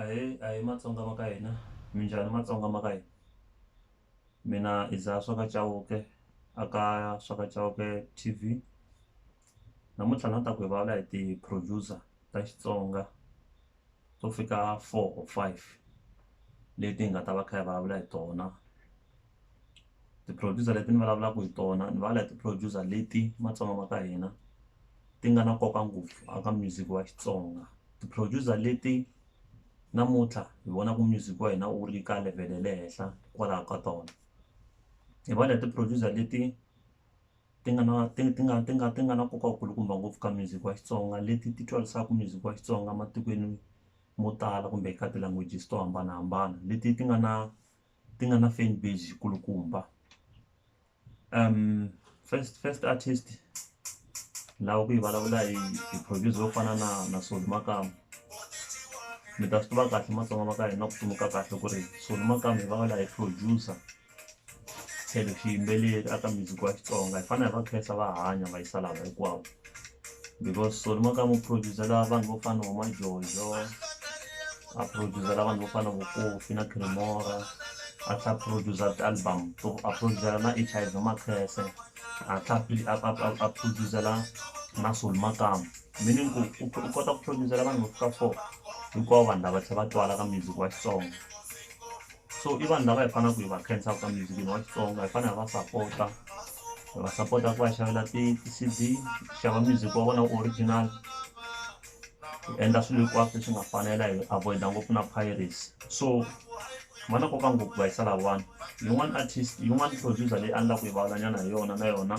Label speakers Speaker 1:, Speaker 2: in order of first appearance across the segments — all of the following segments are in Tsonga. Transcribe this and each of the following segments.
Speaker 1: Ahee ahee matsonga ma ka hina minjhani matsonga ma ka hina mina i dzaha swa ka Chauke a ka swa ka Chauke T_V namuntlha ni la ta ku hi vulavula hi ti producer ta Xitsonga to fika four or five leti hi nga ta va kha hi vulavula hi tona. ti-producer leti ni vulavulaka hi tona ni vulavula hi ti-producer leti matsonga ma ka hina ti nga na nkoka ngopfu a ka music wa Xitsonga ti-producer leti namuntlha hi vonaka music wa hina wu ri ka level ya le henhla hikwalaho ka tona hi va leti producer leti ti nga na ti ti nga ti nga ti nga na nkoka wu kulukumba ngopfu ka music wa Xitsonga leti ti twarisaka music wa Xitsonga matikweni mo tala kumbe ka ti-languages to hambanahambana leti ti nga na ti nga na fan base yi kulukumba first first artist ni lava ku yi vulavula hi hi producer yo fana na na Solly Makamu mi ta swi tiva kahle matsonga va ka hina ku tsundzuka kahle ku ri Solly Makamu hi vulavula hi producer tlhelo xiyimbeleri aka music wa Xitsonga hi fanele hi va khensa va hanya va yisa lava hinkwavo because Solly Makamu producer-a vanhu vo fana na vo Majojo. a producer-la vanhu vo fana na vo Kofi na Chris Mora a tlha producer ti-album to a producer-la na H_I_V Makhese a tlha a producer-la na Soul Makamu meaning ku u u kota ku producer-la vanhu vo fika four hinkwavo vanhu lava tlhe va twala ka music wa Xitsonga so i vanhu lava hi fanaku hi va khensaka ka music wa Xitsonga hi fane hi va sapota hi va sapota hi ku va xavela ti-C_D xava music wa vona original. hi endla swilo hinkwaswo leswi nga fanela hi avoid-a ngopfu na piracy so va na nkoka ngopfu va yisa lavawani yin'wani artist yin'wani producer leyi a ni la ku yi vulavulanyana hi yona na yona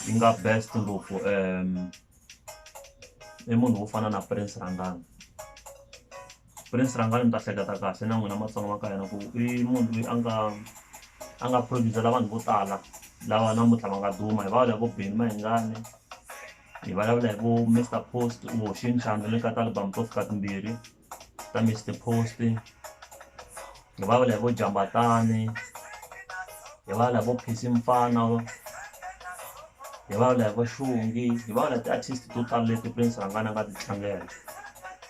Speaker 1: yi nga best ngopfu um i munhu wo fana na prince rhangani prince rhangani mi ta hleketa kahle na n'wina matsonga ma ka hina ku i munhu loyi a nga a nga producer la vanhu vo tala lava namuntlha va nga duma hi va lavo beni mahingani hi vulavula hi vu Mister Post u hoxe ntlhanu le ka ti album to fika timbirhi ta Mister Post hi vulavula hi vo Jambatani hi vulavula hi vo Phesi Mfana hi vulavula hi vo Xongi hi vulavula hi ti-artist to tala leti Prince Rhangani a nga ti tlangela.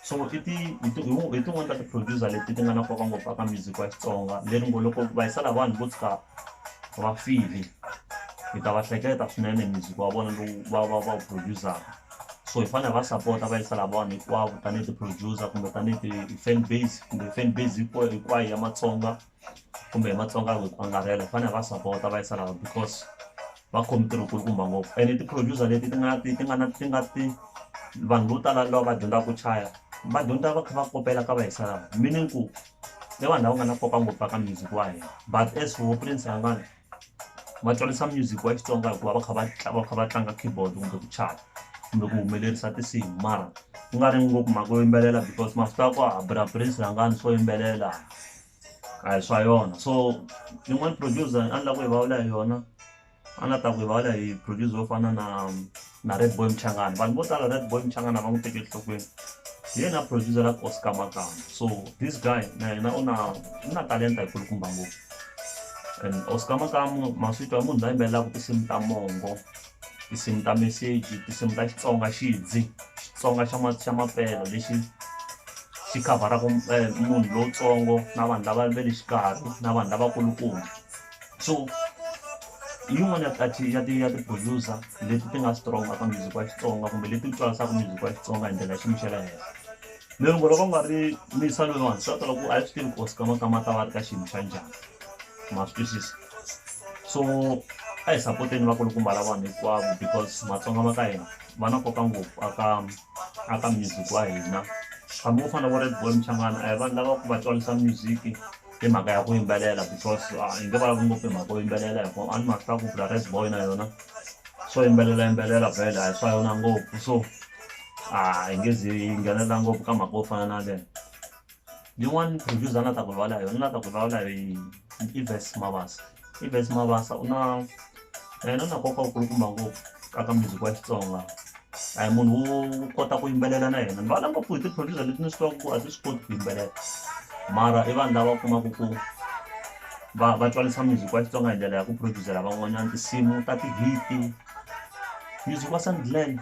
Speaker 1: so i ti i ti i tin'wani ta ti-producer leti ti nga na nkoka ngopfu aka music wa xitsonga leri ngo loko va yisela vanhu vo tshuka va file hi ta va hleketa swinene hi music wa vona lowu va va va wu producer-ka so hi fanele hi va sapota va yisela vanhu hinkwavo tanihi ti-producer kumbe tanihi ti-fan base kumbe fan base hinkwayo ya matsonga kumbe hi Matsonga hi ku angarhela hi fanele hi va sapota va yisa laha because va khome ntirho kulukumba ngopfu ene ti-producer leti ti nga ti ti nga na ti nga ti vanhu vo tala lava va dyondzaka ku chaya va dyondza va kha va kopela ka va yisa laha meaning ku i vanhu lava nga na nkoka ngopfu ka music wa hina but as for Prince Xingana. va tsarisa music wa Xitsonga hikuva va kha va va kha va tlanga keyboard kumbe ku chaya kumbe ku humelerisa tinsimu mara ku nga ri ngopfu mhaka yo yimbelela because masiku ya ku a bra Prince rhangani swo yimbelela a hi swa yona so yin'wani producer a ni la ku yi vulavula hi yona a ni la ku ta ku yi vulavula hi producer yo fana na. Na Redboy Mchangana vanhu vo tala Redboy Mchangana va n'wi teke enhlokweni hi yena a producer-aka Oscar Magama so this guy na yena u na u na talenta yi kulukumba ngopfu and Oscar Magama Maswitwa i munhu la yimbelelaka tinsimu ta mongo tinsimu ta meseji tinsimu ta Xitsonga xidzi Xitsonga xa ma xa mapela lexi xi khavharaka munhu lowutsongo na vanhu lava ve le xikarhi na vanhu lavakulukumba. so hi yin'wani ya ti ya ti ya ti producer leti ti nga strong ka music wa Xitsonga kumbe leti twarisaka music wa Xitsonga hi ndlela ya xiyimo xa le henhla lero ngo loko ku nga ri misa loyiwani swi ta tala ku a hi swi tivi ku Oscama kama ta va ri ka xiyimo xa njhani ma swi twisisa so a hi sapoteni vakulukumba la vanhu hinkwavo because matsonga ma ka hina va na nkoka ngopfu aka aka music wa hina hambi wo fana na vo red ball mchangana a hi vanhu lava ku va twarisa music i mhaka ya ku yimbelela because a hi nge vulavuli ngopfu hi mhaka yo yimbelela hi ku a ni ma swi tiva ku bula red boy na yona so yimbelela yimbelela vhele a hi swa yona ngopfu so a hi nge zi yi nghenelela ngopfu ka mhaka yo fana na leyo yin'wani producer a ni la ta ku rivala hi yona ni la ta ku rivala hi i verse mavasa Evans Mabasa u na yena na nkoka wu kulukumba ngopfu ka ka music wa Xitsonga a hi munhu wo kota ku yimbelela na yena ni vana ngopfu hi ti producer leti ni swi tivaka ku a ti swi koti ku yimbelela mara i vanhu lava u kumaku ku va va tswalisa music wa Xitsonga hi ndlela ya ku producer van'wanyana tinsimu ta ti hit music wa Sandland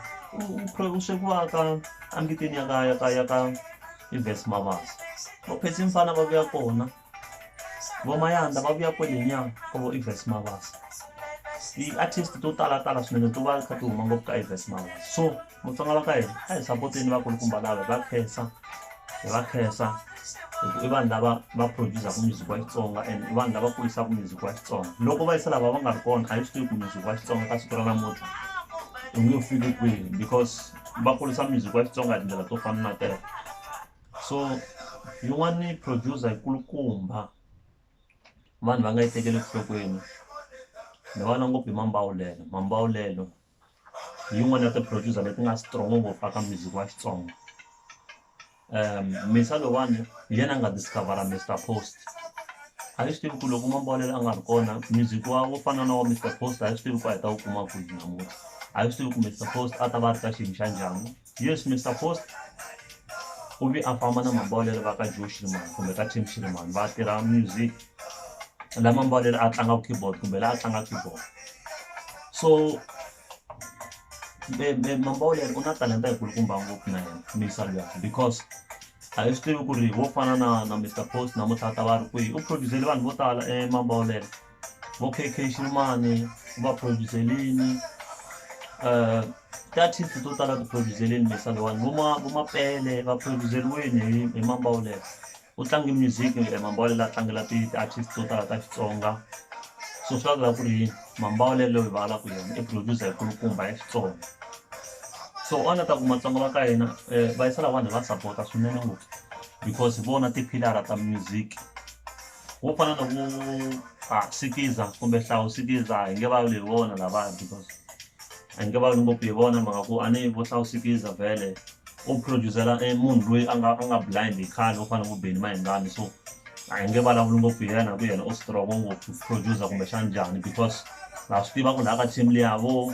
Speaker 1: u swekiwa ka a mbiteni ya ka ya ka ya ka Evans Mabasa va phese mufana va vuya kona. Van'wanyana lava vuya kwale nyana ka vo Evans Mabasa ti artist to tala tala swinene to va ti kha ti huma ngopfu ka Evans Mabasa so Vatsonga va ka hina a hi sapoteni vakulukumba lava hi va khensa hi va khensa hi ku i vanhu lava va produce-aka music wa Xitsonga and i vanhu lava kurisaka music wa Xitsonga loko va yisa lava va nga ri kona a hi swi tivi ku music wa Xitsonga ka siku ra namuntlha wu nge fiki kwihi because va kurisa music wa Xitsonga hi tindlela to fana na teto. so yin'wani producer yi kulukumba vanhu va nga yi tekeli enhlokweni ni vona ngopfu hi mambawulelo mambawulelo hi yin'wani ya ti producer leti nga strong ngopfu eka music wa Xitsonga Misa lowani hi yena a nga discover Mister Post a ni swi tivi ku loko mambawulelo a nga ri kona music wa wo fana na wa Mister Post a hi swi tivi ku a hi ta wu kuma kwihi namuntlha a hi swi tivi ku Mister Post a ta va a ri ka xiyimo xa njhani. Yes Mister Post u vi a famba na Mambawulele va ka Joe Shirimani kumbe ka Tim Shirimani va tirha music la Mambawulele a tlanga keyboard kumbe la a tlanga keyboard so Mambawulele u na talenta yi kulukumba ngopfu na yena misa luya because a hi swi tivi ku ri wo fana na na Mister Post namuntlha ta va ri kwihi u produce-le vanhu vo tala Mambawulele vo K_K Xirumani u va producer-lini ti-artist to tala ti producer-lini leti letiwani vo ma vo Mapele va producer-iwini hi hi Mambawulele u tlange music Mambawulele a tlangela ti ti-artist to tala ta Xitsonga so swi vula ku ri Mambawulele loyi hi vulavulaka hi yena i producer yi kulukumba ya Xitsonga so a ni ta ku Matsonga va ka hina va yisa lahawani hi va sapota swinene ngopfu because hi vona ti-pillar-a ta music. Wo fana na ku a sikiza kumbe hlawu sikiza hi nge va lweyi vona lavaya because a hi nge va lwi ngopfu hi vona mhaka ku a ni vo hlawu sikiza vhele u produce-la e munhu loyi a nga a nga blind hi khale wo fana na vo Benny Mayengani so a hi nge vulavuli ngopfu hi yena hi ku yena u strong-o ngopfu produce-a kumbe xana njhani because ha swi tiva ku laya ka team liya vo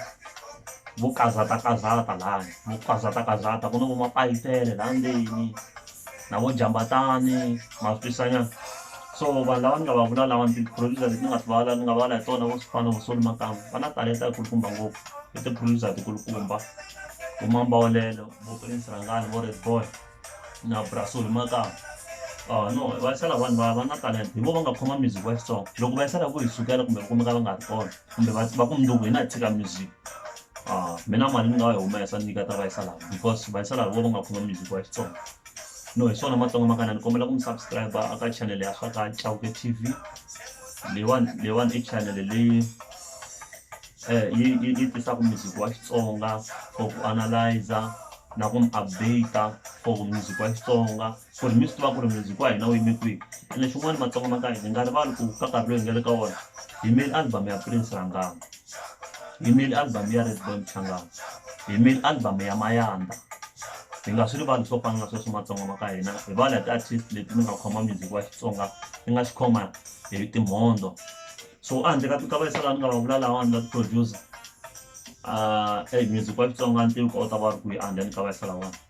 Speaker 1: vo kazatakazata laya vo kazatakazata ku na vo mapayipele la ndzeni. na vo Jambatani, Maspisanyana so vanhu lava ni nga va vula lawa ni ti-producer leti ni nga ti vulavula ni nga vulavula hi tona vo swi fana vo Solly Makambu va na talenta yi kulukumba ngopfu i ti-producer ti kulukumba vo Mambawulelo vo Prince Rhangani vo Red boy na bra Solly Makambu a no va yisela vanhu va va na talenta hi vo va nga khoma music wa Xitsonga loko va yisela hi ku hi sukela kumbe va kumeka va nga ri kona kumbe va va ku mundzuku hina hi tshika music. mina mali ni nga yi humesa ni nyiketa vayisala because vayisala hi vo va nga khoma music wa xitsonga no hi swona matsonga makana ni kombela ku mi subscribe a ka chanele ya swa ka cawuke t v leyiwani leyiwani i chanele leyi um yi yi yi tisaka music wa xitsonga for ku analyzer na ku mi update for music wa xitsonga ku ri mi swi tiva ku ri music wa hina wu yime kwihi ene xin'wani matsonga ma ka hina hi nga rivali ku ka nkarhi loyi hi nga le ka wona hi yimeli album ya prince rhangani hi yimeli album ya redboy mchangani hi yimeli album ya mayandza hi nga swi rivali swo fana na sweswo matsonga ma ka hina hi vala hi ti-artist leti mi nga khoma music wa xitsonga mi nga xi khoma hi timhondzo so a handle ka ka vayisa laha ni nga va vula lawani va ti-producer e music wa xitsonga ni tivi ku a wu ta va ri kwihi a handle ni ka vayisa lawani